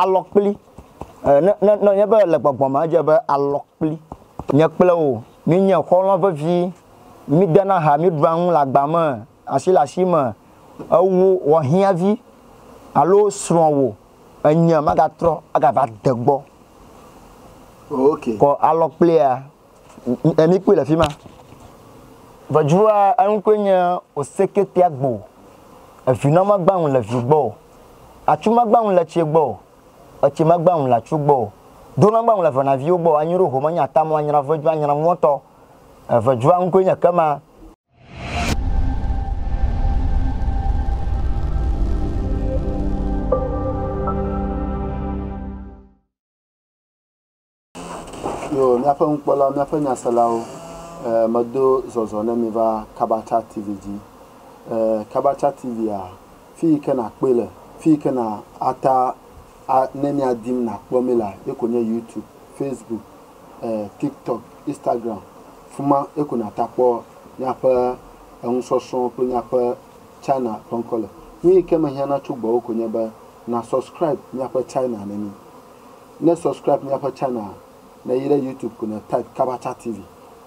Alɔkpli, Ne nɔ nye be le gbɔgbɔ me edze be alɔkpli, nye kple wò míenye xɔlɔ̃ vevi, mídena ha, míɖua nu le agba me, asi le asi me, ewò xɔhiãvi alo srɔ̃wò enye magatrɔ agava de gbɔ o. Alɔkplia. Emi kpɔe le afi ma. Ŋɛdzrua eŋkɔe nye Oseketeagbo. Evinɔ magba ŋu le vi gbɔ o. Atsu magba ŋu le etse gbɔ o. Etse magba ŋu le atsu gbɔ o. Ɖo nagba ŋu le venaviwo gbɔ o. Anyi ɖo home nye ata mɔ anyra ŋɛdzrua anyra ŋuwɔtɔ. Ŋɛdzrua ŋkɔe nye kema. Yoo, míaƒe nukpɔlawo, míaƒe nyaselawo, e, medo zɔzɔ ne mi va Kabacha TV dzi. E, Kabacha TV-a, fi yi ke nàkpɔe le, fi yi ke nà ata a ne mia dim nàkpɔ mi lea, ye ko nye YouTube, Facebook, e, TikTok, Instagram. Fima ye ko nàta kpɔ míaƒe enusɔsrɔ̃wo kple míaƒe China ƒe ŋkɔ le. Nu yi ke mehiã na tso gbɔwò ko nye be, nà subscribe míaƒe China na mí. Ne subscribe míaƒe channel a, ne yi ɖe YouTube ko ne type Kabacha TV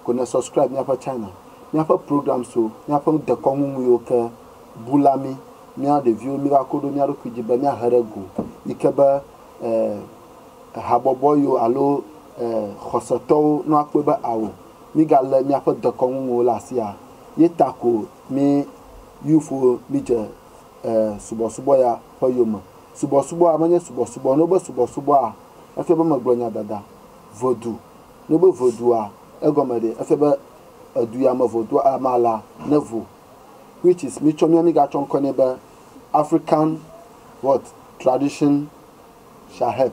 ko ne subscribe míaƒe channel. Míaƒe programs so míaƒe dekɔnu ŋuiwo ke bu la mí, míawo ɖeviwo míva ko ɖo mía ɖokui dzi be míahe ɖe go yi ke be eh habɔbɔ yiwo alo eh xɔsetɔwo no akpɔe be ao mígalé míaƒe dekɔnu ŋuiwo le asi a. Ye ta ko mí youthwo mídze e subɔsubɔ ya ƒe yome. Subɔsubɔa menye subɔsubɔ. Ne wobe subɔsubɔa, efia be megblɔ nya dada. Vodou, ne wobe vodoua, egɔme ɖee? Efia be edu ya me vodoua ame alea nevo. Which is, mitsɔ mía migatsɔ ŋkɔe nɛ be African what? Tradition shall help.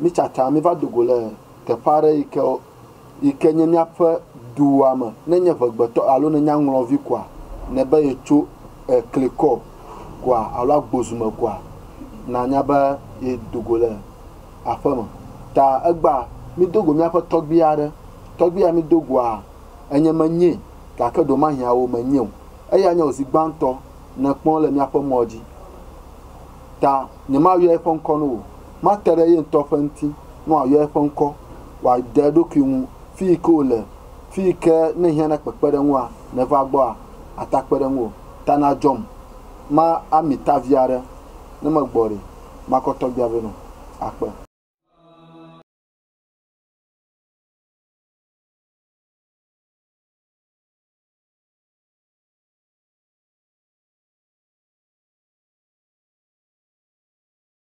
Mitsatsa miva do go le teƒe aɖe yi ke, yi ke nye míaƒe dua me. Ne ènye ŋegbetɔ alo nènye aŋlɔvi koa, nèbe yetso klikɔ goa alo agbozume koa, nànya be yedo go le aƒeme. Ta egbea, mído go míaƒe tɔgbui aɖe. Tɔgbui ya mído goa, enye menyee, gake ɖewomahiã wò menyee o. Eyae nye wò zi gbãtɔ nèkpɔ le míaƒe mɔ dzi. Ta nyemayɔe ƒe ŋkɔ na wò o. Mate ɖe ye ŋutɔ ƒe ŋuti ne wòayɔ eƒe ŋkɔ, wòade eɖokui ŋu fi yi ke wòle, fi yi ke ne ehiã na kpekpeɖeŋua, nèva egbɔa, ata kpe ɖe ŋu o. Ta nadzɔm. Ma ami ta vi aɖe, ne megbɔ ɖi, makɔ tɔgbia vɛ nɔ akpe.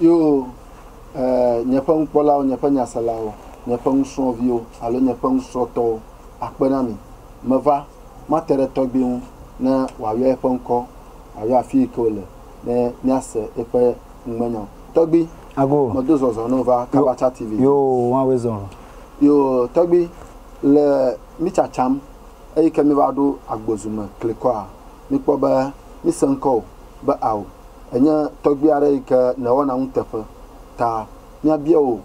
Yo, e, nye ƒe nukpɔlawo, nye ƒe nyaselawo, nye ƒe nusrɔ̃viwo alo nye ƒe nusrɔ̃tɔwo akpe na mi. Meva, mate ɖe tɔgbui ŋu, ne wòayɔ eƒe ŋkɔ, wòayɔ afi yi ke wòle, ne míase eƒe ŋugbenyɔ. Tɔgbui, Ago. medo zɔzɔ ne wova Kabacha TV dzi. Yo, woawoe zɔ. Yo, tɔgbui, le mí tsatsam eyi ke míva ɖo agbozu me klikɔa, míkpɔ be míse ŋkɔwò be ao, Ènye tɔgbui aɖe yi ke nèwɔna nuteƒe ta. Míabia wò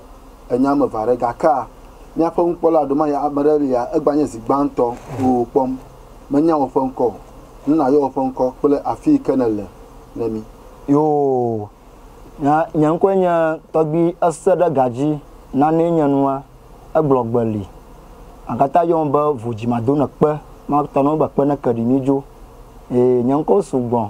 enya ame eve aɖe. Gakea? Míaƒe nukpɔla ɖe maɖe ame aɖe lia? Egbea nye zi gbãtɔ wò kpɔm. Menya wò ƒe ŋkɔ o. Nu nàyɔ wò ƒe ŋkɔ kple afi yi ke nèle ne mí. Yoo, nye, nye ŋkɔe nye Tɔgbui Ese ɖe ga dzi nanee nye nua. Egblɔ gbe li. Agate ayɔ ŋu be vo dzi mado ne kpe. Mate ŋu agblɔ be kpe ne ke ɖi mí dzo. Ee, nye ŋkɔwo su gbɔ.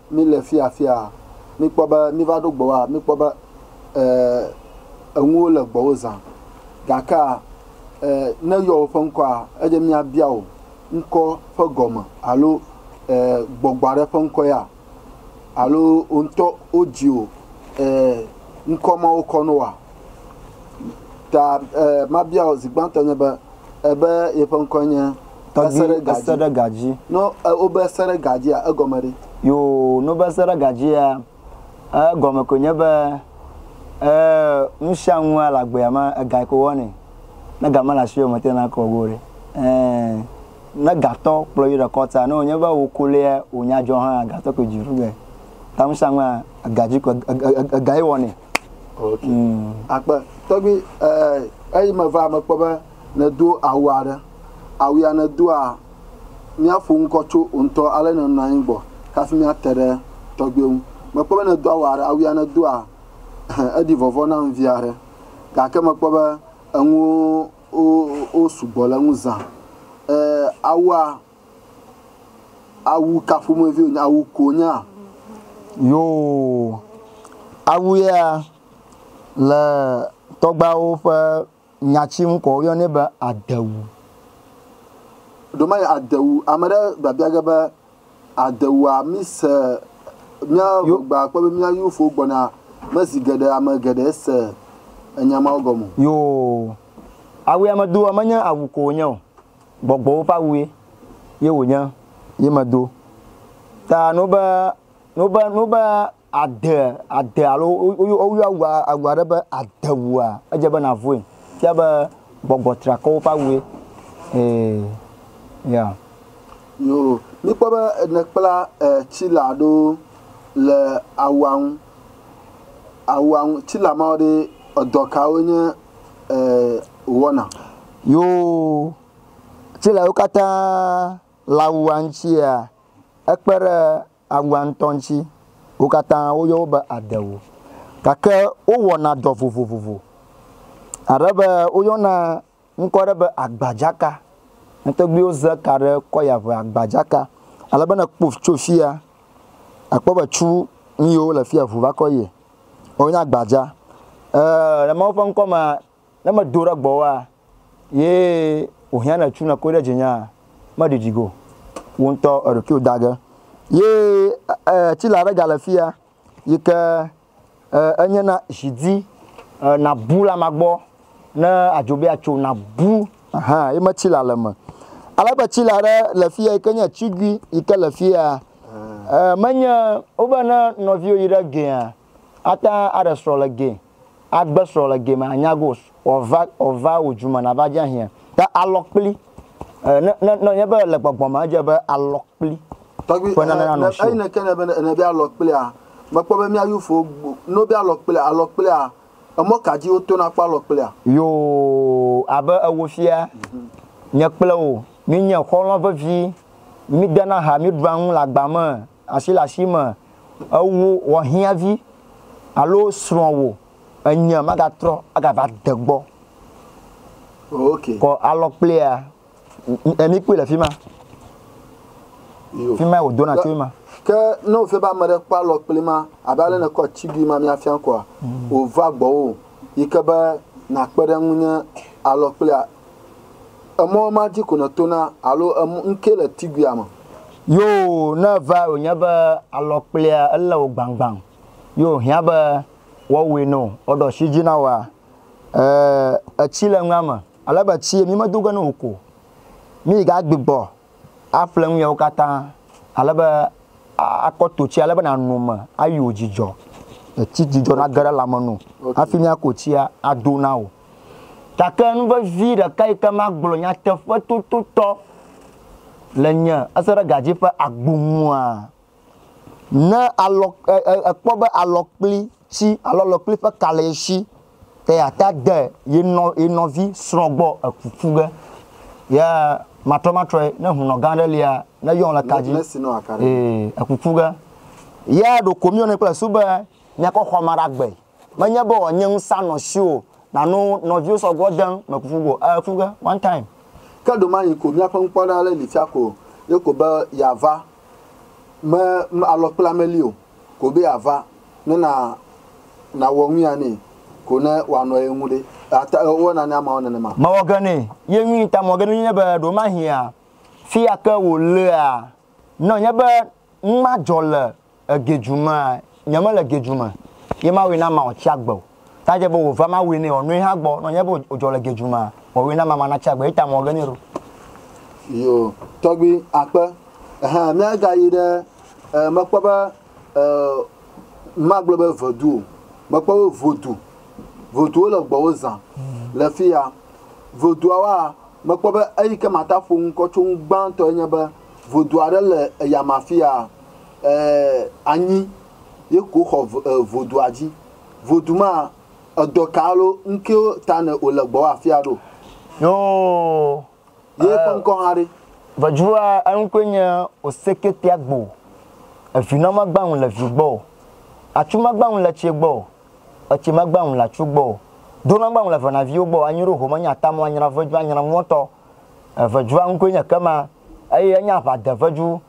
Míle fi afiaa, míkpɔ be míva ɖo gbɔwoa, míkpɔ be, e, enuwo le gbɔwò zã. Gakea, e, ne eyɔ wò ƒe ŋkɔa, edze míabia wò ŋkɔ ƒe gɔme alo, e, gbɔgbɔ aɖe ƒe ŋkɔ ya, alo wò ŋutɔ wodzi wò, e, ŋkɔ mawo kɔ na woa? Ta eh, mabia wò zi gbãtɔ nye be, eh, be yeƒe ŋkɔe nye Tɔgbi Eseɖegadzi. No eh, wobe Eseɖegadzia, egɔme ɖe? Yo, no be Eseɖegadzia, eh, egɔme koe nye be, eh, nusianu le agbea me, ega yike wowɔnɛ. Ne ga mele asiwò o, mete ŋu akɔ go o ɖe. Eh, ne gatɔ kplɔ yi ɖe kɔta, ne wònye be wò ko lia wònya dzɔ hã, gatɔ koe dzi ɖu ge. Ta nusianua, egadzi koe, ega ye wɔnɛ. Okay. Mm. Akpe. Tɔgbi eh, eyi meva mekpɔ be nedo awu aɖe. Awu ya nedoa, míaƒo ŋkɔ tso ŋutɔ ale nenɔ anyi gbɔ hafi míate ɖe tɔgbi ŋu. Mekpɔ be nedo awu aɖe, awu ya nedoa, eɖi vɔvɔ na ŋvi aɖe. Gake mekpɔ be enuwo wo, wo sugbɔ le eŋu zã. Eh, awua Awu ka ƒomevi wonye? Awu ko wonye a? Yoo. Awu yea, le tɔgbuiawo ƒe nyati ŋu ko woyɔnɛ be adewu. Ɖewomanɔ adewu, ame aɖe biabia ge be, adewua mise mía gbɔgbea kpɔ be mía yevufowo gbɔna me zi geɖe ame geɖe se enya mawo gɔme o. Yoo. Awu ya medoa menye awu ko wonye o. Gbɔgbɔwo ƒe awue ye wònye ye medo. Ta no be, no be, no be ade, ade alo woyɔ awu, awu aɖe be adewua, edze be nàvɔe. Fia be gbɔgbɔ triakɔwo ƒe awue. Ee, ya. Yoo. Míkpɔ be nèkpla tsila aɖewo le awua ŋu. Awua ŋutila mawo ɖe edɔ kawo nye e wɔna? Yoo, tsila yiwo katã le awua ŋutsia, ekpe ɖe awua ŋutɔ ŋuti. Wo katã woyɔ wo be adewo. Gake wowɔna dɔ vovovovo. Abe be woyɔna ŋkɔ ɖe be agbadzaka. Ne tɔgbuiwo ze ka ɖe kɔya ŋe agbadzaka. Ale be ne ekpɔ tso fia, akpɔ be tsu nuyiwo le fia ŋu va kɔ yie. Wo nye agbadza. E le Mawu ƒe ŋkɔ mea, ne me do ɖe gbɔwòa, ye wò hiã ne tsu ne koe ɖe dzi nyea, me ɖiɖi go. Wò ŋutɔ eɖokuiwò da ge. Ye e tsila ɖe ga le fia yike. E, enye na zidi e, nabu la ma gbɔ ne adzo be atso nabu. Aha, ye me tsi la le me. Ale be tsi la ɖe le fia yi ke nye tsigui yi ke le fia. E, menye wobe ne nɔviwo yi ɖe gea ata aɖe srɔ̃ le ge agbe srɔ̃ le ge me anyago ova ova wò dzume nava dze ahiã ta alɔ kpli Eh, ne ne ne nye be le gbɔgbɔ me edze be alɔ kpli. Tɔgbi ƒe nane nanɔ si. Eyi ne ke ne be ne be alɔ kplia, mekpɔ be mía yufo no be alɔ kplia alɔ kplia emɔ ka dzi woto na kpɔ alɔ kplia. Yo abe ewo fia nye kple wò mi nye xɔlɔ vevi mi dena ha mi ɖua nu le agba me asi le asi me ewo wɔ hiãvi alo srɔ̃ wò Enyia magatrɔ agava de gbɔ. Okay. Kɔ alɔ kplia. Emi kpui le fi ma. Fi ma wòdo na tso ma. Ke ne wòfia be ame ɖe kpɔ alɔ kpli ma, abe ale ne kɔ tsigui ma míafia kɔa, mm. wòva gbɔwò yi ke be nàkpe ɖe ŋu nye alɔ kplia. Emɔ ma dzi ko nètona alo ŋkee le tiguia me. Yoo, ne va wònye be alɔ kplia elé wò gbãgbãŋ, yoo, hiã be Woawɔe nɔ woɖo asi edzi na woa? Ẽ, etsi le nua me. Ale be etsie mi medo ge ne wò ko. Mi ga gbigbɔ aƒle nu yawo katã ale be a, akɔ to tsia ale be nàno me ayi wò dzidzɔ. Etsi dzidzɔ nage ɖe lãme no hafi miako tsia ado na wò. Gake nu vevi ɖeka yi ke magblɔ nyateƒetototɔ le nye eseɖegadzɛ ƒe agbo nua, Ne alɔ, e, e, ekpɔ be alɔkpli tsi alo alɔkpli ƒe ka le esi, ke yeate ade ye nɔ, ye nɔvi srɔ̃ gbɔ eku ƒu ge. Ye matrɔmatrɔe, ne hunɔ gã aɖe lia, ne yɔn le ka dzi, ee, eku ƒu ge. Ye ɖeko míyɔnɛ kple esu be, Míakɔ xɔa me aɖagbe. Menye be wòanye ŋusã nɔ siwò nàno nɔviwo sɔ gbɔ de ŋu mekuku go e ku ge one time. Ke ɖomayi ko míaƒe ŋkpɔɖa aɖe li fia ko ye ko be yeava me me alɔ kple ame li o ko be yeava ne na nawɔ ŋui ya nɛ ko ne wòanɔ ye ŋu ɖe ate ewɔ na ne ameawo nenema. Mewɔ ge nɛ ye ŋui ta mewɔ ge nɛ nye be ɖomahia fia ke wòlea ne wònye be nu ma dzɔ le Ege dzu mea, nye me le ge dzu me ye ma wui na ma ɔtsi agbe o. Ta dze be wo va ma wui ne ɔnui ha gbɔ nɔ nye be o dzɔ le ge dzu mea, wɔ wui na ma ma na tsi agbe ye ta mɔ ge ne ɖo. Yo, tɔgbi akpe, ehe, mia ga yi ɖe, e, me kpɔ be, e, ma gblɔ be vedu o, me kpɔ be vodu, vodu wo le gbɔ wo zã le fiya. Voduawoa, me kpɔ be eyi ke ma ta ƒo ŋkɔ tso ŋu gbãtɔ ye nye be, Vodu aɖe le eyama afia, ɛɛ anyi ye ko xɔ vodua dzi. Vodu ma edɔ ka alo ŋkewo ta nɛ ole gbɔwɔ afia ɖo? Yoo. Ye ƒe ŋkɔ hã ɖe? Vodua eŋkɔe nye Oseke Piagbo. Evinɔ magba ŋu le vi gbɔ o. Atsu magba ŋu le tse gbɔ o. Etse magba ŋu le atsu gbɔ o. Donɔ magba ŋu le venaviwo gbɔ o. Anyi ɖo home nya tamɔ anyra vodua anyra ŋuɔtɔ. Eŋedzua ŋkɔe nye kema eye enye aʋadeŋedzu.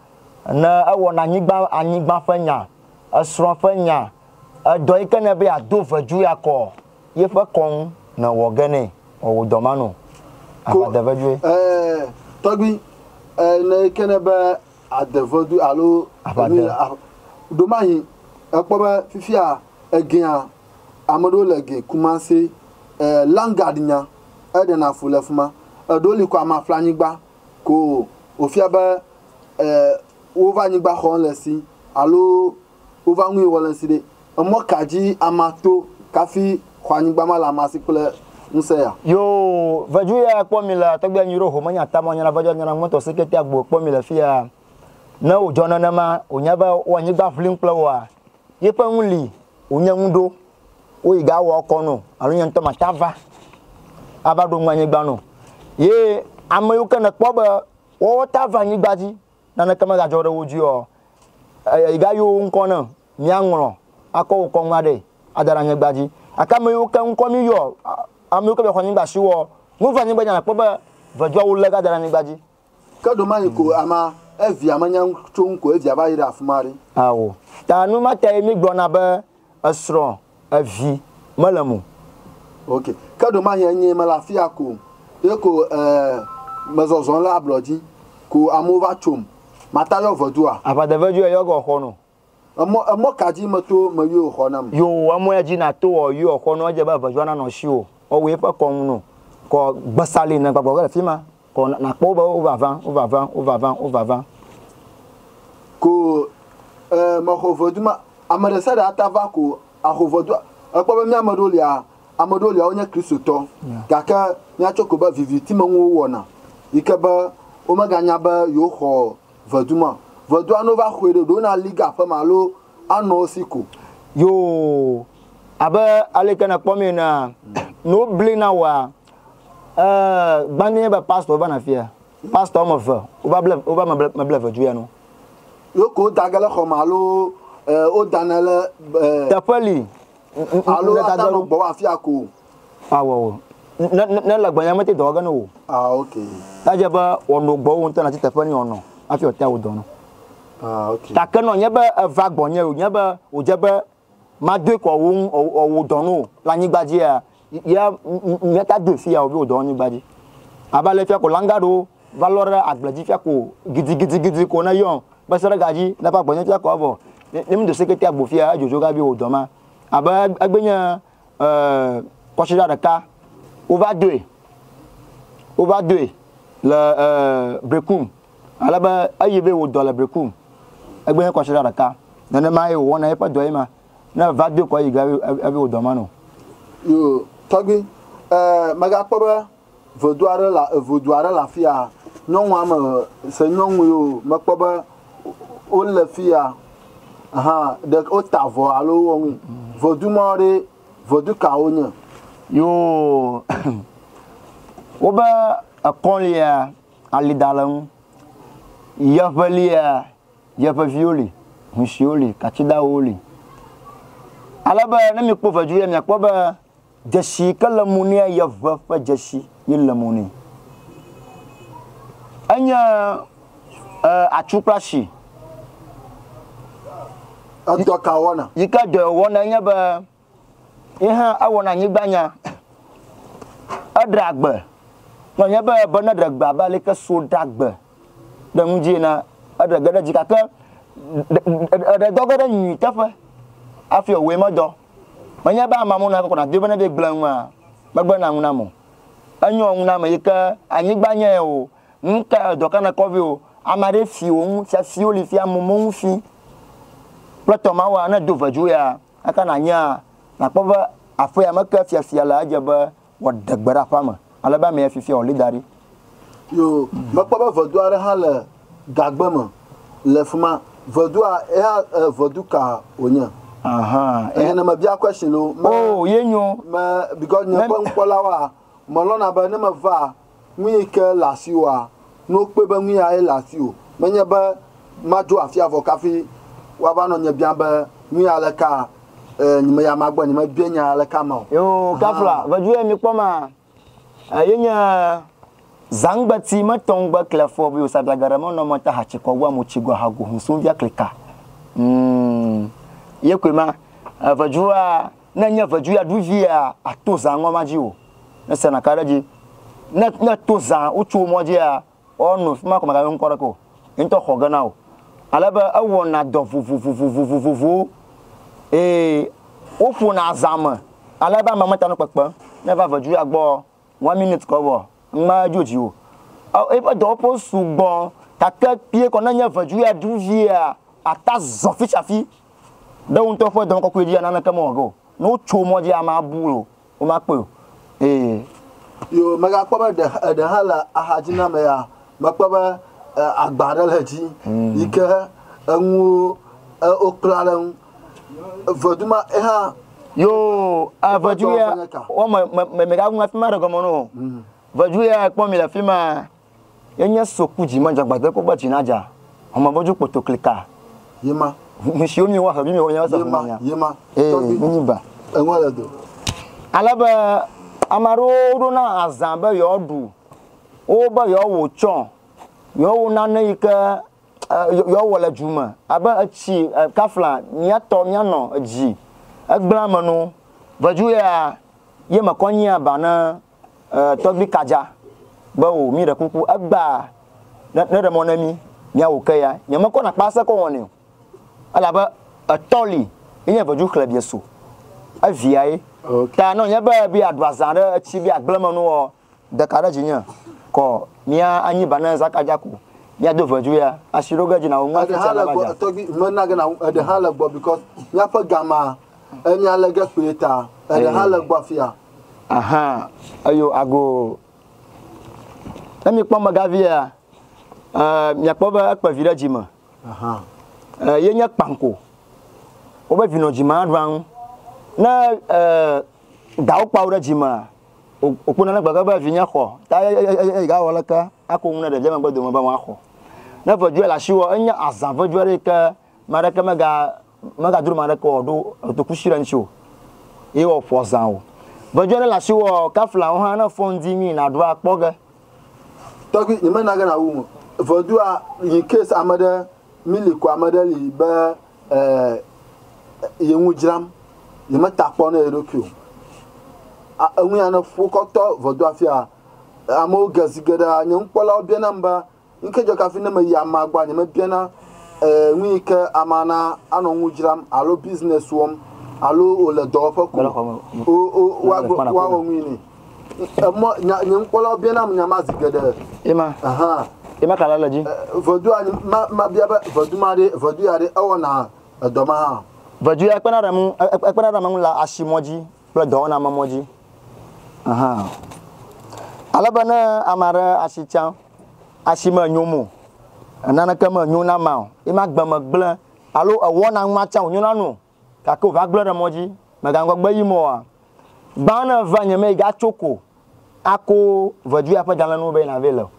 Ne ewɔna anyigba anyigba ƒe nya, esrɔ̃ ƒe nya, edɔ yi ke nɛ be yeado ŋedzu yeakɔ yeƒe kɔ ŋu ne wɔ ge nɛ. Wɔ wò dɔ ma nu. Ko Aʋadeŋedzue. e tɔgbi e ne yi ke nɛ be adeŋedu alo Aʋade. enu a ɖomahi ekpɔ be fifia egea ame ɖewo le ge Kumasi e Langard nya. eɖena fu le fima. Eɖewo li kɔ ama ƒle anyigba ko wofia be e wova anyigba xɔm le si alo wova nui wɔ le si ɖe. Emɔ ka dzi ama to kafi xɔ anyigba ma le ama si kple ŋusẽ ya? Yoo, vedu ya kpɔ mi le tɔgbi anyi ɖo ho me nya tama nyana vedu nyana ŋmɔtɔ si kete agbo kpɔ mi le fiya. Ne wo dzɔ nenema wo nya be wo anyigba ƒlim kple woa Ye ƒe nu li wònye nu ɖo, woyi ga awɔ kɔ no alo nye ŋutɔ mata va ava ɖo nu anyigba no. Ye ame yiwo ke nèkpɔ be woawo ta va anyigba dzi naneke megadzɔ ɖe wo dzi oa, yi ga yɔ wo ŋkɔ ne míaŋlɔ akɔ wokɔ nua ɖe ada ɖe anyigba dzi. Gake ame yiwo ke ŋkɔ míyɔ, ame yiwo ke va xɔ anyigba si woa, nu va anyigba dzi nakpɔ be veduawo le ga da ɖe anyigba dzi. Ke ɖomayi ko ama evia menya nu tso ŋu ko evia va yi ɖe afima ɖi. Ao. Ta nu ma tae mi gblɔna be esrɔ̃, evi, mele mo. Ok. Ke ɖomahi enyee mele afia ko ye ko e me zɔzɔm le ablɔdzi ko amewo va tsom. Mata yɔ vedua? Aʋadevedzue yɔ gɔ xɔnɔ. Emɔ, emɔ ka dzi meto me yɔo xɔ nam? Yo, emɔ ya dzi nato ɔ, yɔo xɔ nɔ, edze be eveviɔ nanɔ ŋshiwò, ɔ wu eƒe kɔŋ nɔ, kɔ gbesa li nɛ gbɔgbɔ ge le fima, kɔ na, nakpɔ wo be wova va, wova va, wova va, wova va. Ko e, mexɔ ŋɔdu ma, ameɖesiaɖe ata va ko axo ŋɔdua. Ekpɔ be miameɖewo lia, ameɖewo lia wonye Kristotɔ, gake miatsɔ ko be vivitimenuwo wɔna, yike be womeganya be yewoxɔ Vedu ma. Vedua no va xoe ɖe ɖo na li ga ƒe ma lo anɔ wo si ko. Yoo. Abe aleke na kpɔmee enea, no bli na woa, e, gbandi nye be pastor wo va na fia. Pastor ɔme ve wo va ble, wo va me ble, me ble vedu ya no. Yo ko wo da ge le xɔ ma lo, e, wo da na le, e. Teƒe li. Alo wo da ge ɖo gbɔ wo afia ko. Awɔ o. Ne ne ne le gbɔ ya mete dɔ wɔge ne wò. Ah ok. Ta dze be wɔnɔ gbɔ wo ŋutɔ na ti teƒe ni wɔnɔ hafi wɔte wo dɔ no. Ah ok. Ta ke nɔ nye be eva gbɔ nye o nye be o dze be ma doe kɔ wo ŋu o wo dɔ no le anyigba dzi ya ya mia ta doe fi ya o bi o dɔ anyigba dzi. Aba le fi ya ko langa ɖo va lɔ ɖe agble dzi fi ya ko gidi gidi gidi ko ne yɔ be se ɖe ga dzi ne va gbɔ nye fi ya ko avɔ ne mi do sekete agbo fi ya ejojo ga bi o dɔ ma abe egbe nye kɔsiɖa ɖeka wova doe wova doe le brekum alebe eyi be wòdɔ le brekum egbe he kɔsiɖa ɖeka nenema ye wòwɔna eƒe dɔ ye ma ne va doe kɔ yi ge ebe wòdɔ ma no. Yo tɔgbi, eh, megakpɔ be Vodu aɖe le, vodu aɖe le afi ya. Nyɔnu ame eve, se nyɔnu yewo, mekpɔ be wole fi ya hã, ɖe, wota avɔ alo wowɔ nu. Vodu ma ɖe, vodu ka wonye? Yoo, wobe ekɔ lia, ali da le ŋu, yeƒe lia, yeƒe viwo li, huisiwo li, katsidawo li. Ale be ne mikpɔ vodu ya, miakpɔ be. Dzesi ke le mo nea ye ʋe ƒe dzesi ye le mo ne. Enye e atsu kple ashi. Edɔ ka wɔna? Yi ke dɔ wɔna enye be ye hã ewɔna anyigba nya. Eɖea gbe. Nɔ nye be be ne ɖe gbe abe ale ke so ɖa gbe ɖe nu dzi ena eɖe ge ɖe dzi gake ɖe dɔ ge ɖe nyui teƒe afi ewɔe me dɔ. Menye be amea mo na kɔkɔ nàdoe be nede gble ŋua megbe na ŋu nam o. Enyo ŋu name yi ke anyigba nye o, ŋu ke edɔ ka nèkɔ vɛ o, ame aɖe fi wò ŋu fiafiwo li fia mo mo ŋu fi kple tɔ ma woa ne do vedzoea eka nànyea nàkpɔ be aƒea me ke fiafia le edze be Woade gbe ɖa aƒea me. Ale be ame ya fifia wòli da ɖi. Yoo, mekpɔ be vedu aɖe hã le gagbe me le fi ma. Vedua, eya eh, vedu ka wònye? Aha, eh. Eye ne mebia question o, me, Oh, ye nyo. me, because nye ƒe nukpɔlawoa, melɔ̃na be ne meva Nui ke le asiwòa? Ne wokpɔe be nui yae le asiwò, menye be madzo afia vɔ kafi woava nɔ nye biam be, Nui ya le kaa? E, nye ya magbɔ nye mebia nya ya le ka ma o. Yoo, kafla veduye mikpɔ ma e ye nye zangbeti me tɔn gbe kle fɔ bio sa dla gere me nɔ me ta hatsi kɔ gua mo tsi gua ha go hun sun via klika. Umm. Ye koe ma. E vedua. Ne nye vedu ya ɖu via, ato zã ŋɔ ma dzi o. Ne se naka ɖe dzi. Ne, ne to zã wotso wo mɔ dzia, woa no fima ko magayo ŋkɔ ɖe ke o. Ye ŋutɔ xɔ ge na wo. Ale be ewɔ na dɔ vovovovovovovowo. Eye wo ƒo na zã me ale be ame me ta nu kpekpe. Ne va vedu ya gbɔ. One minute kɔ vɔ ŋma dzo dziwo ɔ eƒe dɔwɔƒewo sugbɔ gake kpie kɔ ne nye vedu ya ɖu via ata zɔ fitsafi ɖe wo ŋutɔ ƒe dɔme kɔkɔe dzi ya naneke mewɔ ge o ne wotso mɔ dzi amea bu o woma kpɔe o eye Yo mega kpɔ be eɖe hã le axadzi na me ya me kpɔ be agba ɖe le dzi yike eŋuwo wokpla ɖe ŋu Evedu ma eha. Yo avedu ya wo me me me ga ŋu fi ma ɖe gɔme no. Mhm. Vedu ya kpɔ mi le fi ma. Yenye soku dzi ma jagbade ko gbe dzi na dza. Home bodu kpoto klika. Yema. Mishiwo mi wa hedu mi wo nya se. Yema. Yema. Eh, ni ba. Enwa le do. Ale be ame aɖewo ɖo na azã be yewoaɖu wo be yewoawɔ tsɔ yewoawɔ nane yi ke Yewoawɔ le dzu me abe etsi kafla míatɔ míanɔ edzi egblẽa me nu. Vedu ya ye me kɔ nyia ba ne tɔgbi kadza be o mi ɖe kuku egba ne ɖe mɔ ne mi mia wo ke ya nye me kɔ na kpa se kɔ wɔ ne o ele abe etɔ li ye nye vedu xle bie so evia ye ta nɔ nye be bia dua zã ɖe etsi bia gblẽ me nu wɔ Deka ɖe dzi nye kɔ mia anyi ba ne zaka dja ku mia do veju ya asi ɖo ge dji nawo ŋua fiti alaba dja. Tɔgbi me na ge na wu eɖe ha le gbɔ because mia ƒe gama emia le ge kpli ta eɖe ha le gbɔ afia. Aha eyo ago ne mi kpɔ mega vi ya eh, mia kpɔ be ekpe vi ɖe dji me aha eh, ye nye kpanko wobe vinɔ dji ma ɖua ŋu ne eh, dawo kpawo ɖe dji mea Wòkpɔna ne gbegbe be vinye xɔ ta eye gawɔ aleke ako nu na ɖevia megbe dome be woaxɔ. Ne ŋɛdzoe le asiwò, enye azã ŋɛdzoe aɖe yi ke ame aɖeke megadro ame aɖeke o alo ado kusi ɖe eŋuti o eye wòaƒo azã o. Ŋɛdzoe aɖe le asiwò kaflawo hã, ne èfɔ ŋdi nyuie nàɖo akpɔ ge. Tɔgbui, nyemena ge nàwum o. Ŋɛdzoa yi case ame ɖe. Milly ko ame ɖe li be eeee ye nu dzram, ye me ta kpɔ ne ye ɖokui o. A enu ya ne ƒu wokɔ tɔ vɔdo afia, amewo ge zi geɖe a nye nukpɔlawo bia nam be nu ke dzɔ ke hafi ne me yi amea gbɔa nye me bia na eeee nu yi ke amea na anɔ nu dzram alo business wɔm alo wole dɔwɔƒe ko o o wa gblɔ wa wɔ nu yi ne. Emɔ, nya, nye nukpɔlawo bia nam nya ma zi geɖe. Ema. Aha. Ema ka la le dzi. Ʋedua, ma, ma bia be ʋedu ma ɖe, ʋedu ya ɖe ewɔna edɔ ma hã. Ʋedu ya kpena ɖe ŋu, ekpena ɖe ame ŋu le asimɔ dzi kple dɔwɔna me mɔ dzi. Aha. Ale be ne ame aɖe asi tsã, asi me nyo mo, naneke me nyo na ma o, ema gbe me gblẽ, alo ewɔna ŋu ma tsã wònyo na nu o. Gake wòva gblɔe ɖe mɔ dzi, Mègaŋgɔ gbe yim oa? Gbã ne èvea nye mee gatso ko ako ʋeduya ƒe dalẽnuwo be nàvɛ le o.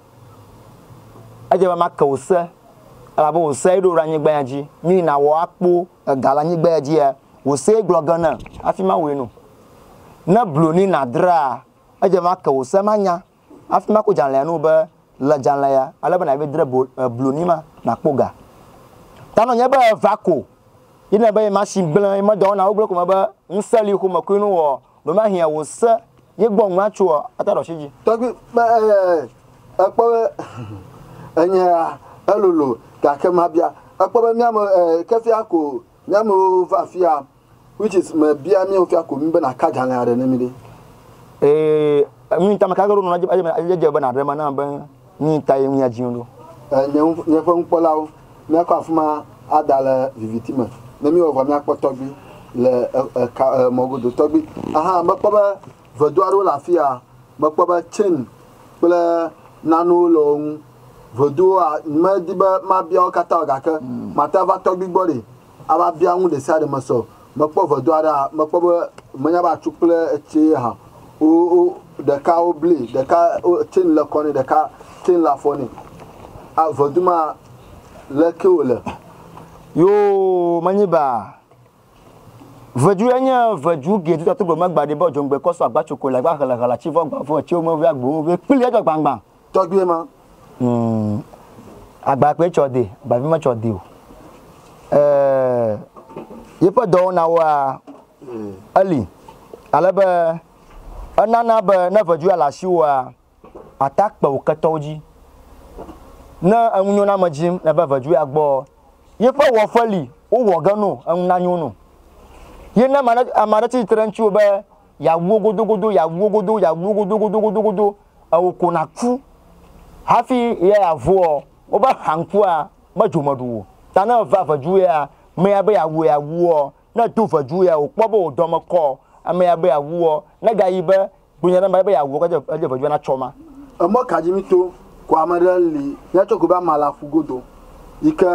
Edze be make wò se, elabe wò see ɖo ɖe anyigba ya dzi. Mí nàwɔ akpo ega le anyigba ya dzia? Wò see gblɔ ge ne hafi mawɔe no. Ne blu ni nàdraa, edze be make wò se manya. Hafi maku dzalẽa nu be, Le dzalẽ ya, ale be nàyɔe dre blu ni ma, nàkpɔ ga. Ta nɔ nye be eva ko. Yi ne be machine gblẽ, yi medɔ wɔna wogblẽ ko me be ŋusẽ li xome koe nu wɔɔ, ɖomahia wò se ye gbɔ ŋu atso ɔ, ata ɖe ɔshi dzi. Tɔgbui be ekpɔ be enye ya elolo gake mabia. Ekpɔ be mía me kefia ko Mi amewo va afia which is me bia mi ofia ko mi be na ka dzalɛ aɖe ne mi ɖe. Ee mi ŋta me ka ge ɖo nɔ adze adze adze dze be na ɖe me na be mi ŋta ye ŋuya dzi ɖo. E nye ŋu nye ƒe ŋukpɔlawo mia kɔ afima ada le viviti me ne mi wɔ vɔ mia kpɔ tɔgbi le e e ka e mɔgodo tɔgbi ahan me kpɔ be Vedu aɖewo le afia. Mekpɔ be chain kple nanewo le wo ŋu. Veduwoa, nyemedi be mabia wo katã o gake mate ŋu ava tɔgbui gbɔ ɖee ava bia nu ɖesiaɖe me se o. Mekpɔ vedu aɖea, mekpɔ be menya be atsu kple etsi ye hã wo, wo, ɖeka woblee, ɖeka wo, chain le kɔ nɛ, ɖeka chain le afɔ nɛ. A, vedu ma, leke wòle? Yoo, menyi baa. Vedu ya nye vedu gɛ tuta tugbɔ magba ɖi bɔ djongbe kɔ sɔ agba tsoko le agba ɣele ɣele atsi vɔ agba vɔ etsi wo mɔvi agbo wo vɛ kpli edzɔ gbangban. Tɔgbie ma. Hmm. Agba kpe tsɔ de, agba vi me tsɔ de o. Euh, yeƒe dɔwɔna woa, hmm. eli. Ale be, enana be ne vedu ya le asi woa, Ata kpe wò ketɔwo dzi. Ne enu nyo na ame dzi ne eve ve dzoea gbɔɔ, ye ƒe wɔƒe li wowɔ ge no enu nanyo no. Ye ne ame aɖe tsi tsitre ɖe ŋutiwò be yeawu wo godogodo, yeawu wo godo, yeawu wo godo godo godo godo, ewò ko nàku hafi ye yeavuɔ, wobe hankua medzo me ɖu o. Ta ne eve ve dzoea amea be yeawu yeawu woɔ, ne do ve dzoea wòkpɔ be wò dɔ me kɔɔ, amea be yeawu woɔ, ne gayi be Kpɔ nya ɖe mba be ya wɔ kɔdze edze vɔdzi na tsɔ ma. Emɔ kadzi mi to ko ame ɖe li ya tsɔ ko be ama la ƒu godo yi ke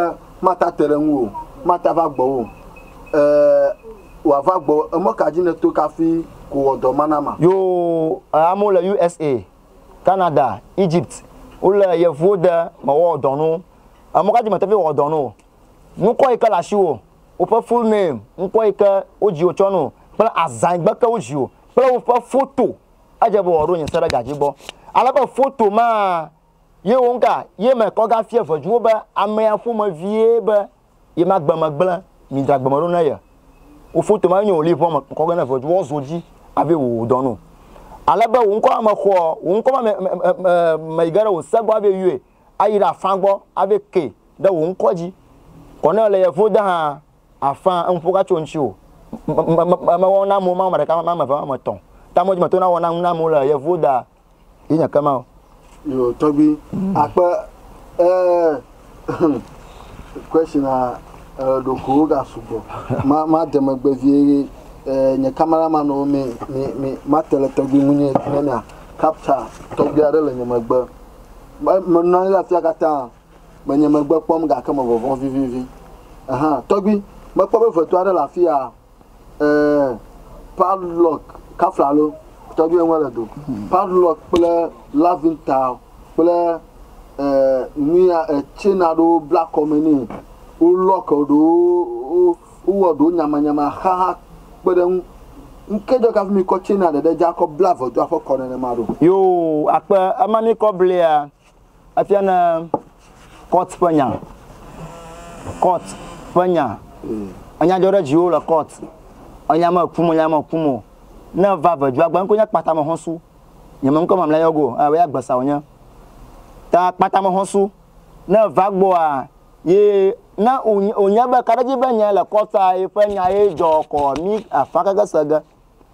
ma ta te ɖe ŋu o ma ta va gbɔ wo e wa va gbɔ emɔ kadzi ne to kafi ko wɔ dɔ ma na ma. Yo e amewo le usa, Canada, Egypt wo le yevuwo de me wɔ dɔ no emɔ kadzi me te vi wɔ dɔ no nukɔ yi ke le ashiwo woƒe full name ŋkɔ yi ke wo dzi wo tsɔ no kple azan yi gbe ke wo dzi wo. kple woƒe foto, edze be wòaɖo nye se ɖe ga dzi gbɔ. Ale be foto ma ye woŋka ye me kɔ gafia veduwo be amea ƒomevie be yemagbe me gblẽ mi dra gbe me ɖo ne ye. Wo foto ma nye wò liʋɔ me kɔ ge ne vedu woawo zo dzi ave wò dɔ nu. Ale be wò ŋkɔ ma me xɔɔ, wò ŋkɔ ma me, me, me, me, me yi ge ɖe wò se gbɔ ave yɔe, ayi ɖe afã gbɔ ave kee ɖe wò ŋkɔ dzi. Kɔnɛɔ le ye vo de hã Afã, eŋuƒo gatso ŋtsiwò. Me wɔna amewo ma ame ɖeka ma ame eve ma ame etɔ. Ta me dzi me tona wɔna ŋu na amewo le yevuwo da yi nye kema o. Yo tɔgbi akpe eeh question a eɖokuiwo ga sugbɔ ma ma de megbe vie ye eeh nye camera man wo mi mi mi ma te le tɔgbi ŋu nye ne mia capture tɔgbi aɖe le nye megbe me nɔanyi ɖe afia katã. Menye megbe kpɔm gake me vɔvɔ̃ vivivi. Ɛhɛ̃, tɔgbui, mekpɔ be ʋeto aɖe le afi ya. Ɛɛ, Padlock, Kafla alo tɔgbui eŋu ele do. Padlock kple Lavinta kple, ɛɛ, nuya, ɛɛ, tsɛn aɖewo bla kɔme nɛ. Wo lock ɖewo, wo, wowɔ ɖewo nyamanyama xa hã kpe ɖe eŋu. Ŋke dzɔ kafi mikɔ tsɛnia ɖeɖe dzi akɔ bla ʋetoa ƒe kɔ nenema ɖo? Yoo, akpe ema mikɔ blia Efia ne court ƒe nya, court ƒe nya, enya dzɔ ɖe dziwò le court, enya me kum o, enya me kum o, ne eva ʋedua gbe ŋkɔ nye kpata me xɔsu, nye me ŋkɔ mamlɛ yɔ go, ɛ woya gbesa wò nye. Ta kpata me xɔsu, ne eva gbɔa, ye ne wò nye be kaɖedzi be nye le court a ye ƒe nya ye dzɔ kɔ mi afã keke se ge.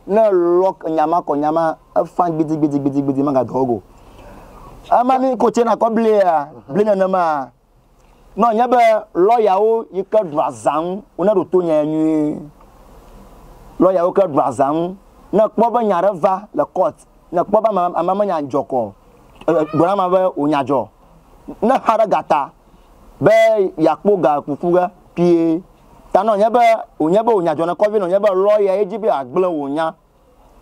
Ne lock nya ma kɔ nya ma efan gbidi gbidi gbidi gbidi ma ga dɔwɔ go. Ema ni ko tse na kɔ bli ya bli nene ma. No nye be lawyer wo yi ke ɖua zan wo ne ɖo to nya ya nyuie. Lawyer wo ke ɖua zan ne kpɔ be nya ɖe va le court ne kpɔ be ama ama me nya dzɔ kɔ gblɔ na ma be wo nya dzɔ ne xa ɖe gata be ya kpo ga kuku ge pie Ta nɔ nye be wò nye be wò nya dzɔnekɔ vi nɔ nye be lɔya ye dzi be ya gblẽ wò nya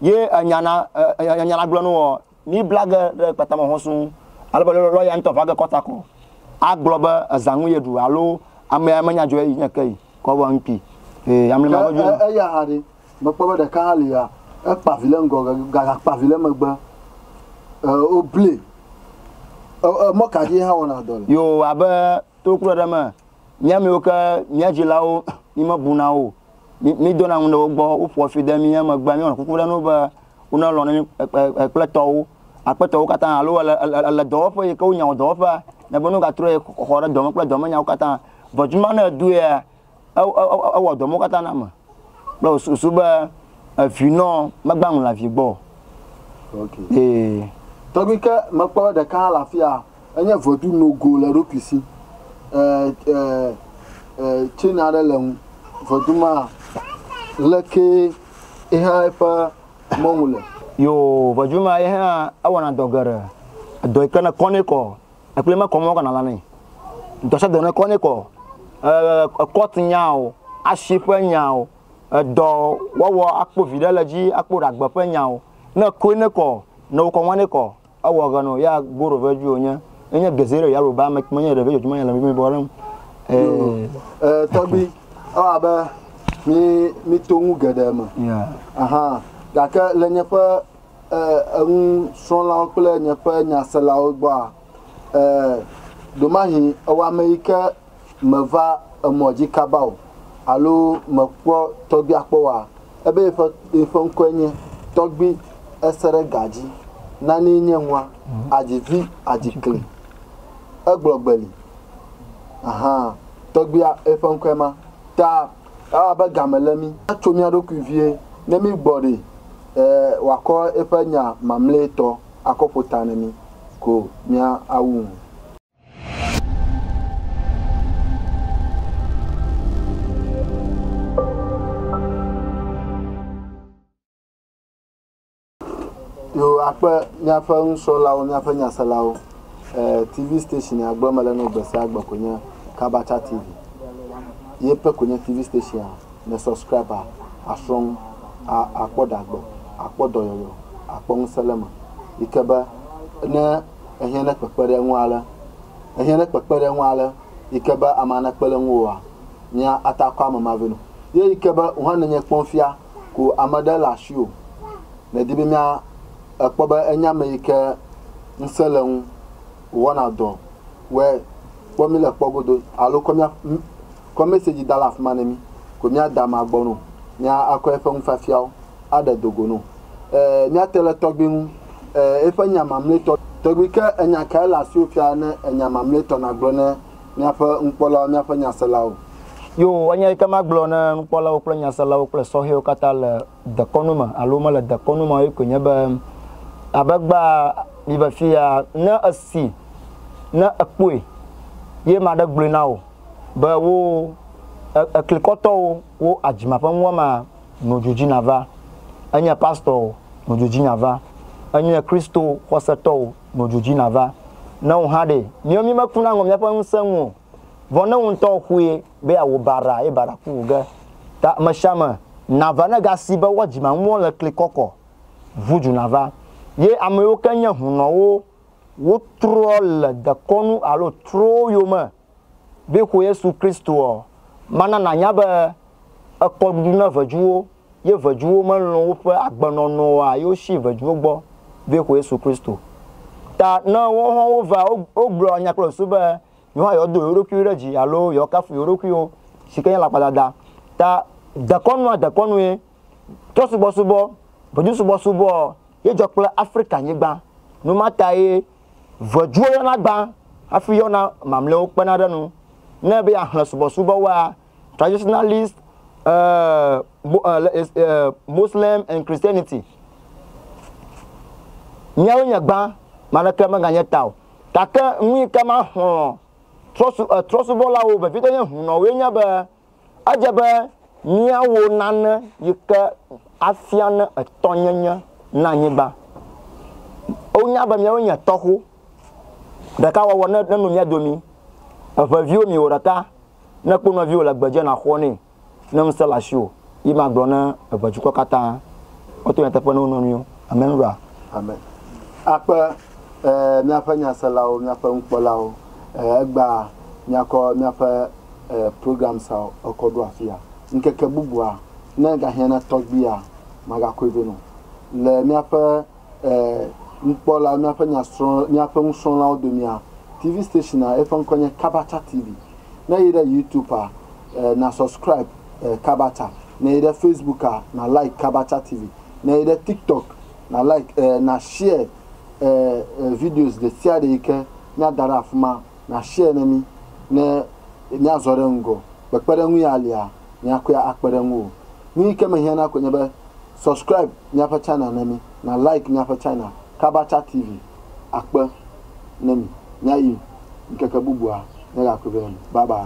ye enya na enya nya na gblẽ nɔ wò mi bla ge ɖe kpata me hɔn suu ale be lɔya ŋtɔ va ge kɔ ta kɔ a gblɔ be eza ŋu ye ɖu alo amea me nya dzɔɛ yi nye ke yi kɔ vɔ ŋkpi e amli ma dɔdzi nɔ. Eya hã ɖe me kpɔ be ɖeka hã li ya e kpa vi le ŋgɔ ga ga kpa vi le megbe e wo blee e e mɔ ka dzi ye hã wɔna dɔ le. Yo abe To kplɔe ɖe me, mía miwo ke mía dzilawo mímebu na o. Mí, mídona ŋu ɖe wo gbɔ, woƒoa fi de mía megbe, míewɔna kuku ɖe na wo be wonelɔ̃ na mí kple tɔwo, aƒetɔwo katã, alo ele, ele, ele dɔwɔƒe yi ke wonyawo dɔwɔƒea, ne be ne wogatrɔe xɔ ɖe dɔme kple dɔmenyawo katã. Ʋedu ma, ne èdoea, Ewɔ dɔ mɔ katã na ame kple wò susu be evi nɔ megbã ŋu le avi gbɔ o. Ee. Tɔgbi ke mekpɔ ɖeka hã le afia, enye vedu nogo le eɖokui si. E, e, e, chain aɖe le ŋu. Vedu ma leke ehã eƒe mɔnu le. Yoo, vedu ma yehã ewɔna dɔ geɖe. Edɔ yi ke ne kɔ nɛ kɔ Ekpli me kɔm kana la nɛ. Dɔsɛ dɔ ne kɔ ne kɔ. Ekɔt nyao, ashi ƒe nyao, edɔ wɔwɔ akpo vi ɖe le dzi akpo ɖagbe ƒe nyao. Ne kɔe ne kɔ, ne wokɔ ŋa ne kɔ, ewɔ ɣe no ya goro ve dzi wonye. Enye geze ɖe ya ro ba me kpɔ nye ɖe ve dzi me le me bɔ ɖem. E tɔgbi, ewa abe mi mi to nu geɖe me. Aha gake le nye ƒe. e, enusrɔ̃lawo kple nye ƒe nyaselawo gbɔa? E, ɖomahi ewɔ ame yi ke meva emɔ dzi kaba o alo mekpɔ tɔgbia kpɔ oa? Ebe yeƒe, yeƒe ŋkɔe nye Tɔgbi Eseɖegadzi. Nanee nye nua, adzi vi, adzi kli. Egblɔ gbeli. Ahan, tɔgbia, eƒe ŋkɔe ma. Ta Ewa abe game lé mí tso mía ɖokui vie ne mígbɔ ɖi be wòakɔ eƒe nya mamlɛtɔ akɔ ƒo ta na mí ko míawu ŋu. Yoo akpe míaƒe nusrɔ̃lawo, míaƒe nyaselawo. Eh, TV station ya gblɔm mele nɔ gbe sia gbe koe nye Kabacha TV. Ye pe koe nye TV station ya. Ne subscribe a, asrɔ̃ nu, a, akpɔ ɖa gbɔ, akpɔ dɔyɔyɔ, akpɔ ŋusẽ le eme. Yi ke be ne ehiã ne kpekpe ɖe eŋu ale, ehiã ne kpekpe ɖe eŋu ale yi ke be ame anekpe ɖe ŋuwòa, mía ata akɔ ame ma vɛ nɔ. Ye yi ke be wò hã nènye kpɔm fia ko ame ɖe le asi o. Medi be mía ekpɔ be enye ame yi ke ŋusẽ le eŋu wɔna dɔ wɔe kpɔ mí le kpɔ godo alo kɔ mía kɔ message da le afima ne mí ko mía da amea gbɔ no mía akɔ eƒe nufiafiawo aɖe do go no. E mía te le tɔgbui ŋu e eƒe nya mamletɔ. Tɔgbui ke enya kae le asiwò fia ne enya mamletɔ na gblɔ ne. Míaƒe nukpɔlawo, míaƒe nyaselawo. Yoo, enya yi ke magblɔ ne nukpɔlawo kple nyaselawo kple sɔhɛwo katã le dekɔnu me alo womele dekɔnu me o ye koe nye be, abe gbea mi ve fiya, ne èsi, ne èkpɔe, ye maɖe gblɔe na wò be wo, e, eklikɔtɔwo, wo adzima ƒe nuwɔmea no dzodzi nava. Enye pastor o, no dzodzi nava. Enye Kristo xɔsetɔ o, Nɔ dzudzi nava na wò hã ɖe. Miɔ mi meku na ŋɔ miaƒe ŋusẽ ŋu o. Vɔ ne wò ŋutɔ xue be yeawò baɖa eye baɖa ku wò ge ta amesiame nava ne gasi be woa dzima ŋuɔ le kli kɔkɔ ŋu dzu nava. Ye ameyiwo ke nye hunɔwo wotrɔ le dekɔnu alo trowo yome. Be xo Yesu Kristo ɔ, mana nanya be ekɔ ɖuɖu ne vejuwo, ye vejuwo me lɔn woƒe agbenɔnɔ oa, ye wo shi vejuwo gbɔ be xo Yesu Kristo. Ta ne wo hɔn wo va, wo gblɔ nya kple susu be yewo hã yewo do yewo ɖokuiwo ɖe dzi alo yewo kafu yewo ɖokuiwo shike nye lakpadada. Ta dekɔnu a dekɔnue, trɔsubɔsubɔ, vejusubɔsubɔ ɔ, ye dzɔ kple Afrika nyigban. Numa tae Ŋɛdzuwo yɔna gbã hafi yɔna mamlɛwo kpena ɖe enu. Ne ebe yeaxlẽ subɔsubɔwoa, Traditionalist Muslims and Christianity, Miawoe nye gbã, ame aɖeke meganye ta o. Gake nu yi ke maxlɔ̃ trɔsubɔlawo veviɖe nye hunɔwoe nye be, Edze be míawo nane yi ke afia ne etɔnyenye na anyigba. Wonya be míawoe nye tɔxu. Ɖeka wɔwɔ ne nenu mía domi. Eŋe viwo mi wò ɖeka. Ne kpɔ nɔviwò le gbedzi na xɔ nɛ ne ŋusẽ le asiwò. Yi ma gblɔ ne eŋe dukɔ katã woto nyateƒe ne wo nɔnɔewo. Amen ɖoa? Amen. Akpe eh, míaƒe nyaselawo, míaƒe nukpɔlawo eh, egbea míakɔ míaƒe program sa ekɔ ɖo afia. Ŋkeke bubua, ne egahiã na tɔgbia, magakɔe vɛ nɛ o. Le míaƒe nukpɔla, míaƒe nyasrɔ̃, míaƒe nusrɔ̃lawo domea, TV station'a, eƒe ŋkɔe nye Kabata TV. Ne èyi ɖe Youtubea, na subscribe Kabata. Ne èyi ɖe Facebooka, na like Kabata TV. Ne èyi ɖe TikTok, na like, na share videos ɖesiaɖe yi ke míada ɖe afima. Nàshiɛ ne mí ne míazɔ ɖe ŋgɔ. Kpekpeɖeŋu ya lia míakɔe akpe ɖe ŋuwò. Nuyi ke mehiã na koe nye be subscribe míaƒe channel ne mí, na like míaƒe channel Kabacha TV. Akpe ne mi. Míayi ŋkeke bubua míagakpɔe be enu. Bye bye.